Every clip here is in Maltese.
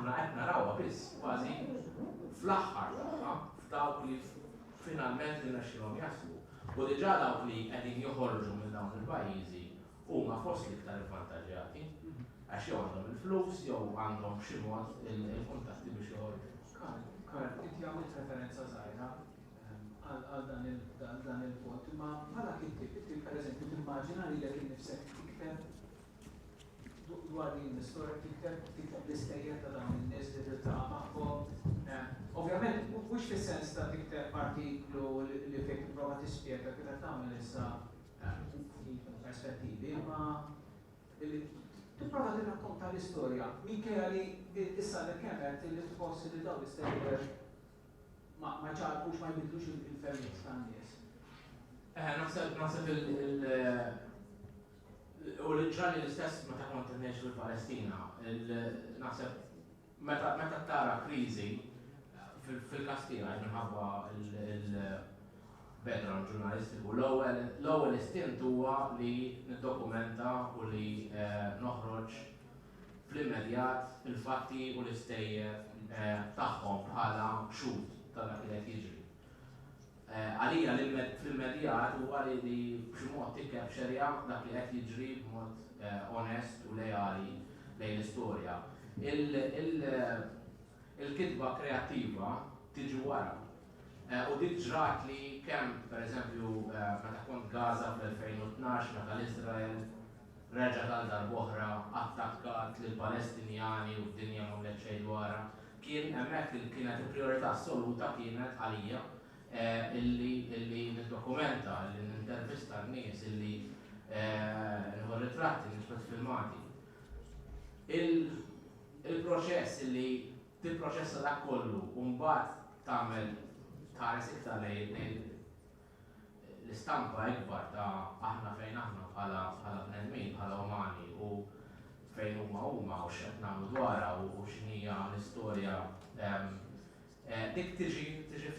Imma qed narawha biss kważi fl-aħħar tagħha f'dawk li finalment irnexxielhom jaslu. U diġà dawk li qegħdin joħorġu minn dawn il-pajjiżi huma fost l-iktar ivvantaġġjati għax jew għandhom il-flus jew għandhom b'xi mod il-kuntatti biex joħorġu. Karl, Karl, inti għamilt referenza żgħira għal dan il-punt, imma bħala kittieb, inti pereżempju timmaġina lilek innifsek tikteb Dwar din l-istorja tikteb tikteb l-istejjer ta' dawn in-nies li tiltaqa' magħhom. Ovvjament mhux fis-sens ta' tikteb artiklu li fejn tipprova tispjega kif qed tagħmel issa ftit mill-perspettivi, imma li tipprova tirrakkonta l-istorja minkejja li issa għadek kemm għedt li tħoss li dawn l-istejjer ma ma jċarrqux, ma jbiddlux il-fehmiet tan-nies. Eħe, naħseb naħseb il- U l-Iżrael l-istess meta kont qed ngħix fil-Palestina, naħseb meta meta tara kriżi fil-każ tiegħi minħabba il-background ġurnalistiku, l-ewwel l-ewwel istint huwa li niddokumenta u li eh, noħroġ fl-immedjat il-fatti u l-istejjer eh, tagħhom bħala xhud ta' dak li qed jiġri. Għalija l-immedjat huwa li b'xi mod tikkepċerja dak li qed jiġri b'mod onest u leali lejn l-istorja. Il-kitba kreattiva tiġi wara. U dik ġratli kemm, pereżempju, meta kont Gaza fl-2012 meta l-Iżrael, reġgħet għal darb'oħra attakkat lill-Palestinjani u d-dinja m'għamlet xejn dwarha. Kien hemmhekk li kienet il-prijorità assoluta kienet għalija illi illi niddokumenta, illi nintervista n-nies, illi nieħu ritratti, niġbed filmati. Il-proċess illi tipproċessa dak kollu u mbagħad tagħmel tħares iktar lejn l-istampa ikbar ta' aħna fejn aħna bħala bnedmin, bħala umani u fejn huma huma u x'qed nagħmlu dwarha u x'inhija l-istorja dik tiġi tiġi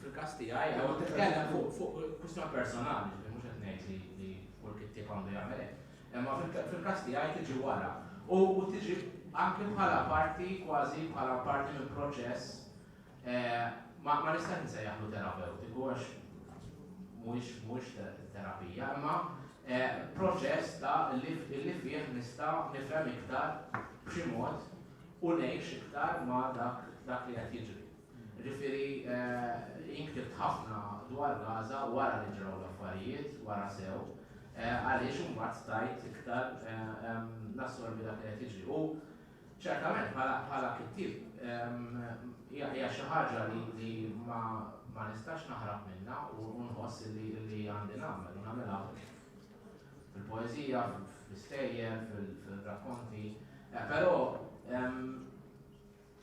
fil-każ tiegħi jew titkellem fuq kwistjoni personali, ġifieri mhux qed ngħid li kull kittieb għandu jagħmel hekk. Imma fil-każ tiegħi tiġi wara u tiġi anke bħala parti kważi bħala parti mill-proċess Ma nistax insejjaħlu terapewtiku għax mhuwiex mhuwiex terapija, imma proċess ta' li fih nista' nifhem iktar b'xi mod u ngħix iktar ma' dak dak li qed jiġri. Ġifieri jien ktibt ħafna dwar Gaza wara li ġraw l-affarijiet, wara sew, għaliex imbagħad stajt iktar nassorbi dak li qed jiġri. Ċertament bħala kittieb hija xi ħaġa li ma nistax naħrab minnha u nħoss li għandi nagħmel u nagħmilha fil-poeżija, fl-istejjer, fil-rakkonti. Eh, però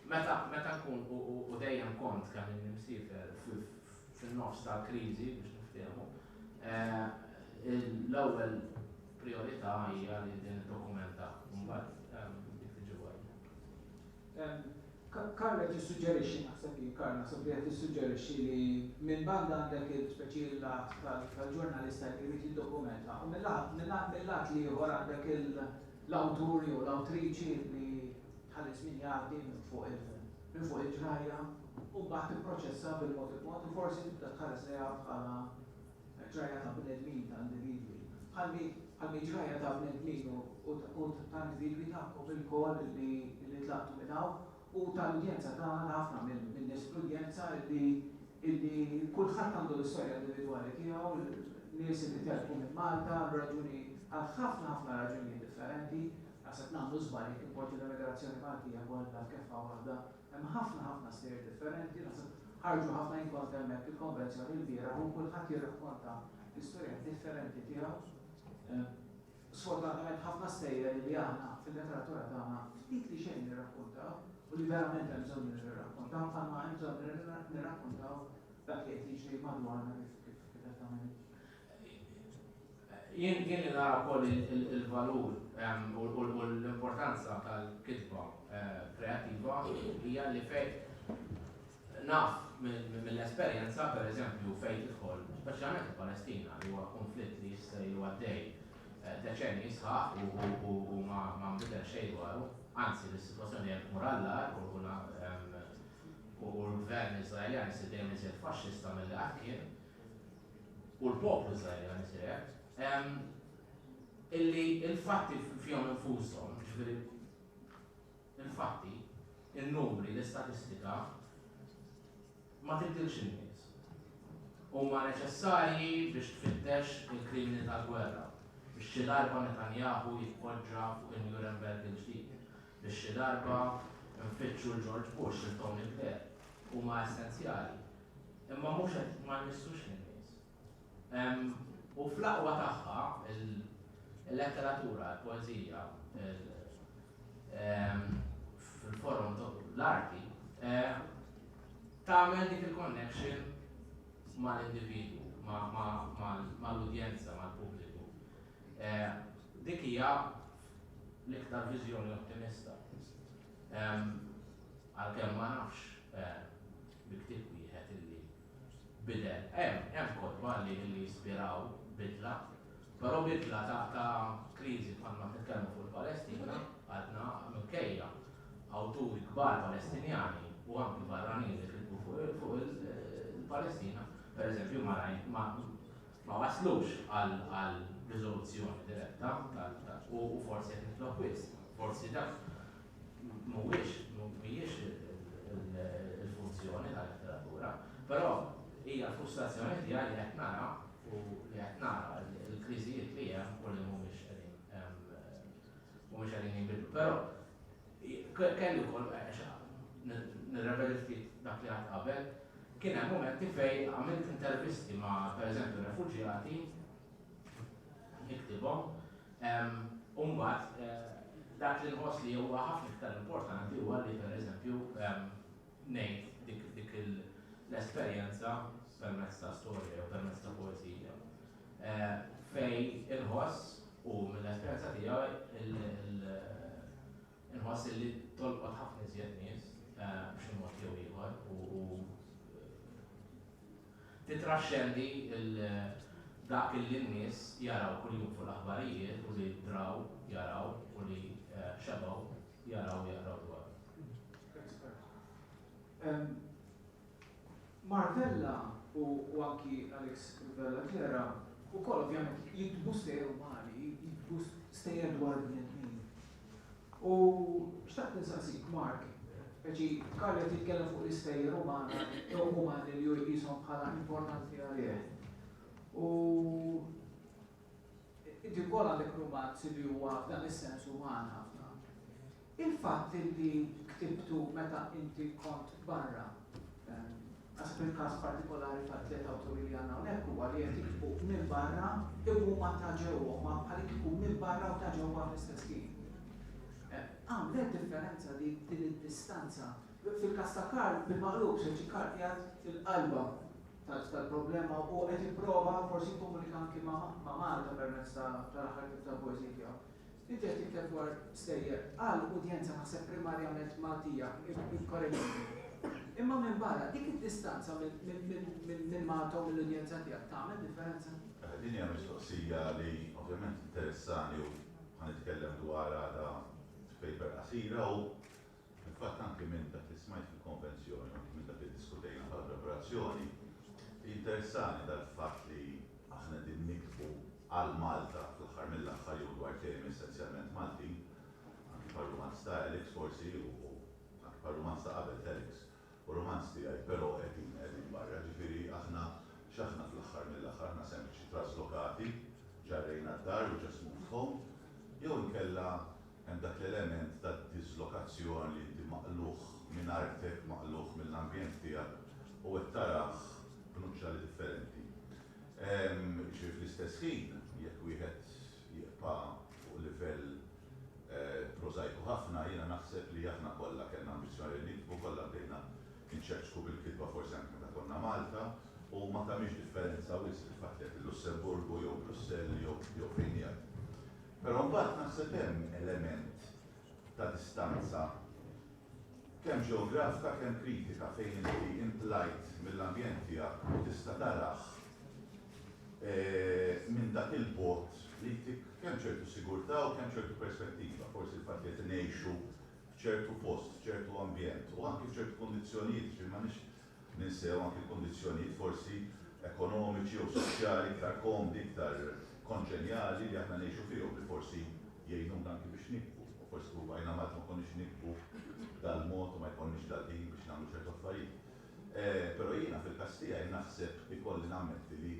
meta nkun u dejjem kont kemm il-nimsifer fin-nofs tal-kriżi biex niftehmu, eh, l-ewwel Prijorità hija li din iddokumenta mbagħad dik li ġewwa hija. Karl qed jissuġġerixxi, naħseb hi Karl naħseb li qed tissuġġerixxi li minn banda għandek speċi l-għad tal-ġurnalista li jrid jiddokumenta u mill-għad l-ieħor għandek l-awtur jew l-awtriċi li tħallis min jgħaddi minn fuq il-ġrajja u mbagħad tipproċessa bil-mod il-mod u forsi tibda tħares lejha bħala ġrajja ta' bnedmin, ta' individwi, bħalmi ġrajja ta' bnedmin u ta' individwi tagħkom ilkoll li tlaqtu minn hawn u tal-udjenza tagħna, ta' ħafna min-nies fl-udjenza li kulħadd għandu l-istorja individwali tiegħu, nies li telqu minn Malta għal raġuni, għal ħafna ħafna raġunijiet differenti, naħseb nagħmlu żball jekk inpoġġu l-emigrazzjoni Maltija kollha f'keffa waħda Hemm ħafna ħafna stejjer differenti, naħseb ħarġu ħafna jien kont hemmhekk il-konvenzjoni l-bieraħ u kulħadd jirrakkonta l-istorja differenti tiegħu. Sfortunatament ħafna stejjer li aħna fil-letteratura tagħna ftit li xejn nirrakkontaw u li verament hemm bżonn nirrakkontaw bħalma hemm bżonn nirrakkontaw dak li qed jiġri madwarna kif qed tagħmel Jien li nara wkoll il-valur u l-importanza tal-kitba kreattiva hija li fejn naf mill-esperjenza, pereżempju, fejn tidħol, speċjalment il-Palestina li huwa kunflitt li jista' ilu għaddej deċennji sħaħ u ma nbidel xejn dwaru, anzi l-sitwazzjoni qed tmur għall-agħar u l-Gvern Iżraeljan isir dejjem iżjed faxxista milli qatt kien. u l-poplu Israeli għan istrieħ, illi il-fatti fjom infusom, ġifiri, il-fatti, il-numri, l-istatistika, ma tibdilx in-nies. Huma neċessarji biex tfittex il-krimini tal-gwerra, biex xi darba Netanyahu jitpoġġa fuq il-Nuremberg il-ġdid, biex xi darba nfittxu l-George Bush, il-Tony Blair, huma essenzjali Imma mhux qed ma nmissux lin-nies. U fl-aqwa tagħha, il-letteratura, il-poeżija, fil-forum l-arti, tagħmel dik il-connection mal-individwu, mal-udjenza, mal-pubbliku. Eh, dik hija l-iktar viżjoni ottimista. Għalkemm ma nafx eh, bi ktieb wieħed illi bidel. Hemm, hemm kotba li, li jispiraw bidla, però bidla ta', ta' kriżi bħal ma nitkellmu fuq il-Palestina, għadna minkejja awturi kbar Palestinjani u anki barranin li kitbu fuq, fuq il-Palestina, per eżempju, ma, ma, ma waslux għal, għal riżoluzzjoni diretta, u, u forsi qed nitlob wisq, forsi dak mhuwiex mhijiex il-funzjoni tal-letteratura, però hija frustrazzjoni tiegħi li qed nara u li qed nara l-kriżijiet li hemm u li mhumiex qegħdin mhumiex qegħdin jinbidlu. Però kelli wkoll nirrepeti ftit dak li għad qabel, kien hemm momenti fej għamilt intervisti ma' pereżempju refuġjati niktibhom U mbagħad, dak li nħoss li huwa ħafna iktar importanti huwa li pereżempju ngħid dik l-esperjenza permezz ta' storja jew permezz ta' poeżija. Fejn inħoss u mill-esperjenza tiegħi Inħoss illi tolqot ħafna iżjed nies b'xi mod jew ieħor u titraxxendi dak illi n-nies jaraw kuljum fuq l-aħbarijiet u li draw jaraw u li xebgħu jaraw u jaqraw dwaru. Mark Vella u anki Alex Vella Clera wkoll ovvjament jiktbu stejjer umani, jiktbu stejjer dwar il-bnedmin. U xtaqt insaqsik Mark, ġi Karl qed jitkellem fuq l-istejjer umana jew umani li hu jqishom bħala importanti għalih. U inti wkoll għandek rumanz li huwa f'dan is-sens uman ħafna. Il-fatt li ktibtu meta inti kont barra, naħseb il-każ partikolari tat-tliet awturi li għandna hawnhekk huwa li qed jiktbu minn barra u huma ta' ġewwa, huma bħalikieku minn barra u ta' ġewwa fl-istess ħin. Għamlet differenza dik din id-distanza? Fil-każ ta' Karl, bil-maqlub, se jġi Karl qiegħed fil-qalba tal-problema u qed jipprova forsi jikkomunika anki ma' Malta permezz tal-aħħar ktieb tal-poeżiji tiegħu. Inti qed tikteb dwar stejjer għal udjenza naħseb primarjament Maltija, ikkoreġini. Imma minbarra, dik id-distanza minn Malta u mill-udjenza tiegħek tagħmel differenza? Din hija mistoqsija li ovvjament tinteressani u ħa nitkellem dwarha għada f'paper qasira u Fil-fatt anki minn dak li smajt fil-konvenzjoni u anki minn dak li ddiskutejna bħala preparazzjoni, jinteressani dal-fatt li aħna qegħdin niktbu għal Malta fl-aħħar mill-aħħar jew dwar temi essenzjalment Maltin, anki bħar-rumanz ta' Alex forsi u anki bħar-rumanz ta' qabel t'Alex. u romanzi tiegħi però qegħdin qegħdin barra, ġifieri aħna x'aħna fl-aħħar mill-aħħar, aħna sempliċi traslokati, ġa rejna d-dar u just moved home, jew inkella hemm dak l-element ta' diżlokazzjon li inti maqlugħ minn artek, maqlugħ mill-ambjent tiegħek u qed tarah b'nuċċali differenti. Ġifieri fl-istess ħin jekk wieħed. jibqa' fuq livell prożajku ħafna, jiena naħseb li aħna kollha kellna ambizzjoni li niktbu, kollha bdejna nċekċku bil-kitba forsi anke meta konna Malta, u ma tagħmilx differenza wisq il-fatt li qed il-Lussemburgu jew Brussell jew fejn qiegħed. Però mbagħad naħseb hemm element ta' distanza kemm ġeografika kemm kritika fejn inti intlajt mill-ambjent tiegħek u tista' tarah minn dak il-bogħod li jtik kemm ċertu sigurtà u kemm ċertu perspettiva, forsi l-fatt li qed ngħixu f'ċertu post, f'ċertu ambjent u anki f'ċertu kundizzjonijiet, jiġifieri m'għandniex ninsew anki kundizzjonijiet forsi ekonomiċi jew soċjali iktar komdi, iktar konġenjali li aħna ngħixu fihom li forsi jgħinuna anki biex nikbu. Forsi kieku bqajna Malta ma konniex nikbu b'dal-mod u ma jkollniex dal-ħin biex nagħmlu ċertu affarijiet. Però jiena fil-każ tiegħi naħseb, ikolli nammetti li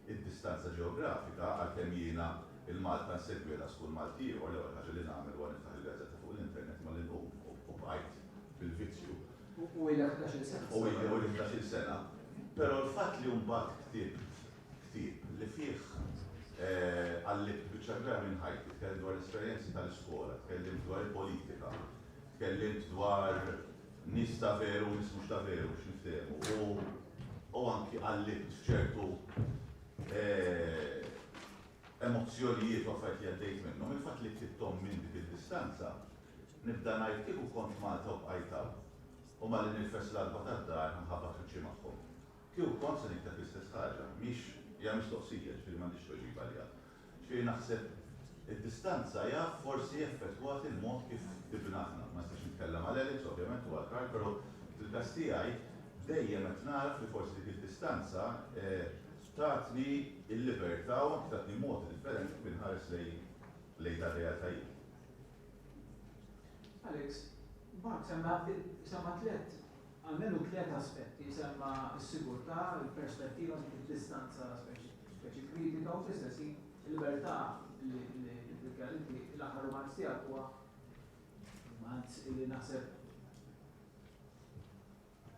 Id-distanza ġeografika, għalkemm jiena l-Malta nsegwielha skull Malti ieħor, l-ewwel ħaġa li nagħmel huwa niftaħ il-gazzetta fuq l-internet malli nqum u bqajt bil-vizzju. U ilek ħdax-il sena tistgħu tgħidu. U ili ħdax-il sena. Però l-fatt li mbagħad ktibt ktieb li fih qallibt biċċa kbira minn ħajti, tkellimt dwar l-esperjenzi tal-iskola, tkellimt dwar il-politika, tkellimt dwar nies ta' veru u nies mhux ta' veru biex niftehmu, u anki qallibt f'ċertu emozzjonijiet u affarijiet li għaddejt minnhom, il-fatt li ktibthom minn dik id-distanza, nibda ngħid kieku kont Malta u bqajt hawn, u malli nirfes l-għatba tad-dar ħanħabbat wiċċi magħhom, kieku kont se nikteb l-istess ħaġa? Mhix, hija mistoqsija, ġifieri m'għandix tweġiba għaliha. X'hi naħseb id-distanza jaf forsi effettwat il-mod kif dibna aħna. Ma nistax nitkellem għal Alex ovvjament u għal Karl però fil-każ tiegħi dejjem qed nagħraf li forsi dik id-distanza tatni l-libertà u anki tatni mod differenti kif inħares lejn dan realtajiet. Alex, Mark semma semma tlett Almenu tliet aspetti semma, is-sigurtà, il-perspettiva dik id-distanza speċi kritika u fl-istess ħin il-libertà li tiddikjara. Inti l-aħħar rumanz tiegħek huwa rumanz illi naħseb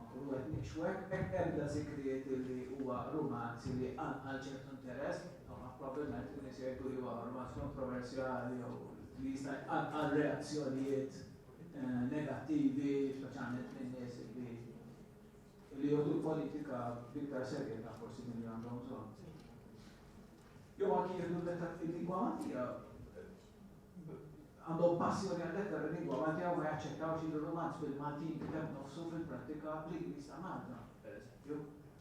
nkunu qed ngħixu hekk, hekk ebda żikriet illi huwa rumanz illi qanqal ċertu interess, probbilment in-nies jgħidu li huwa rumanz kontroversjali jew li jista' jqanqal reazzjonijiet. negattivi, speċjalment minn nies li li jieħdu l-politika b'iktar serjetà forsi milli għandhom bżonn. Jew anki jieħdu l-lingwa Maltija għandhom passjoni għal-letter il-lingwa Maltija u ma jaċċettawx li l-romanz bil-Maltin kiteb nofsu fil-prattika bl-Ingliż ta' Malta, per eżempju,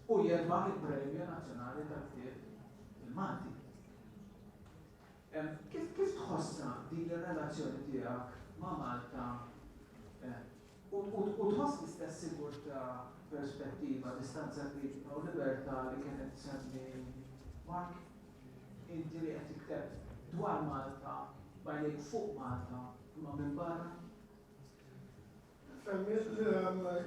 u jerbaħ il-Premju Nazzjonali tal-Ktieb il-Malti. Kif kif tħossha din ir-relazzjoni tiegħek ma' Malta u u tħoss l-istess sigurtà, perspettiva, distanza kritika u libertà li kien qed isemmi Mark? Inti li qed tikteb dwar Malta b'għajnejk fuq Malta imma minn barra? Femmiet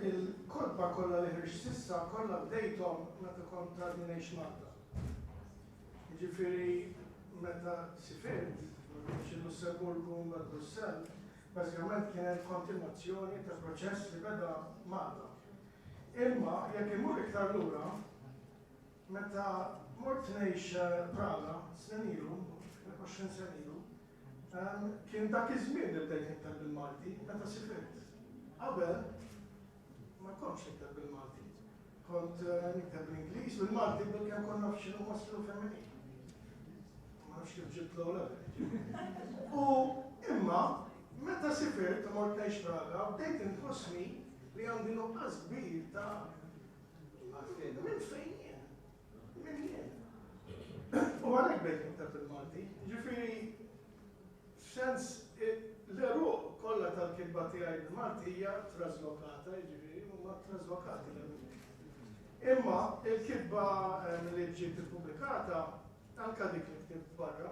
il-kotba kollha li ħriġt s'issa kollha bdejthom meta kont għadni ngħix Malta. Jiġifieri meta sifirt, mhux il-Lussemburgu mbagħad Brussell, bażikament kienet kontinwazzjoni ta' proċess li beda Malta. Imma jekk immur iktar lura, meta mort ngħix Praga snin ilu, 20 sena ilu, Kien dak iż-żmien li bdejt nikteb bil-Malti, meta sifirt. Qabel, ma kontx nikteb bil-Malti. Kont nikteb bl-Ingliż, bil-Malti, bilkemm kont naf x'inhu masklu femminili. Ma nafx kif ġibt l-ewwel U imma, meta sifirt u mort ngħix Praga, bdejt inħossni li għandi nuqqas kbir ta' minn fejn jien. U għalhekk bdejt nikteb il-Malti. Ġifieri f'sens l-għeruq kollha tal-kitba tiegħi bil-Malti hija traslokata, jiġifieri huma traslokati l-għeruq. Imma il-kitba li ġiet ippubblikata anke dik li ktibt barra,